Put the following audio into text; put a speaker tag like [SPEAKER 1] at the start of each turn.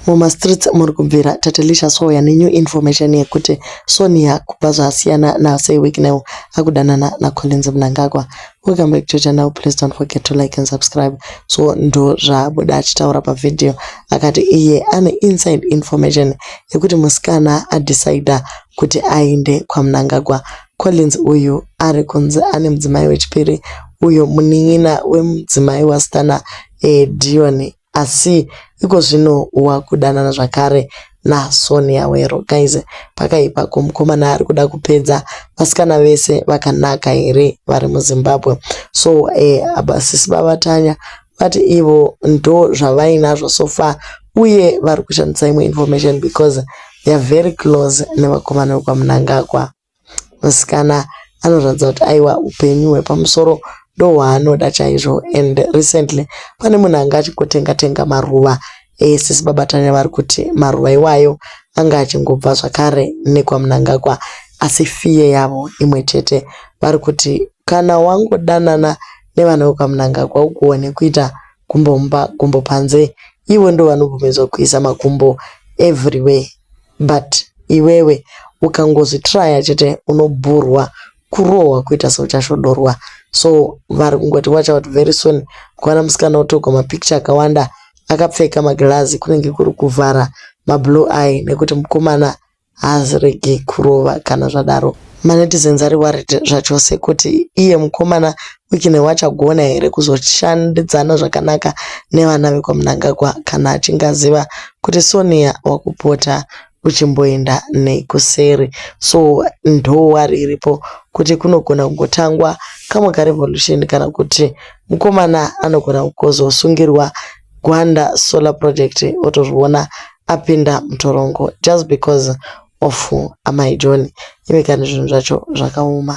[SPEAKER 1] Muma streets muri kubvira Tatilisha Soya ne new information yekuti Sonia kubva zvaasiyana na Sir Wicknell akudanana na Collins Mnangagwa. Welcome back to channel please don't forget to like and subscribe. So ndo zvaabuda achitaura pa video akati iye ane inside information yekuti musikana a decider kuti aende kwa Mnangagwa. Collins uyu ari kunzi ane mudzimai wechipiri uyo munin'ina wemudzimai wasikana eh, Dion asi iko zvino wakudanana zvakare na Sonia wero guys pakaipa ko mukomana arikuda kupedza vasikana vese vakanaka here vari muZimbabwe so eh, abasisi baba Tanya vati ivo ndo zvavainazvo so far uye vari kushandisa imwe information because they are very close nevakomana vekwaMnangagwa Musikana anoratidza kuti aiwa hupenyu hwepamusoro ndohwaanoda chaizvo and recently pane munhu anga achingotenga tenga maruva esisi babaTanya vari kuti maruva iwayo anga achingobva zvakare nekwaMnangagwa asi fear yavo imwe chete vari kuti kana wangodanana nevana vekwaMnangagwa ugoone kuita gumbo mumba gumbo panze ivo ndovanobvumidzwa kuisa makumbo everywhere. But iwewe ukangozi tryer chete unobhurwa kurohwa kuita seuchasvodorwa so vari kungoti watch out very soon kuwana musikana otogwa mapicture akawanda akapfeka magirazi kunenge kuri kuvhara mablue eye nekuti mukomana haaziregi kurova kana zvadaro. Ma netizens ari worried zvachose kuti iye mukomana Wickney wachagona here kuzoshandidzana zvakanaka nevana vekwaMnangagwa kana achinge aziva kuti Sonia wakupota uchimboenda nei kuseri. So ndo worry iripo kuti kunogona kungotangwa kamwe ka revolution kana kuti mukomana anogona kuzosungirwa Gwanda Solar Project otozviona apinda mutorongo just because of amai John iwe kani zvinhu zvacho zvakaoma.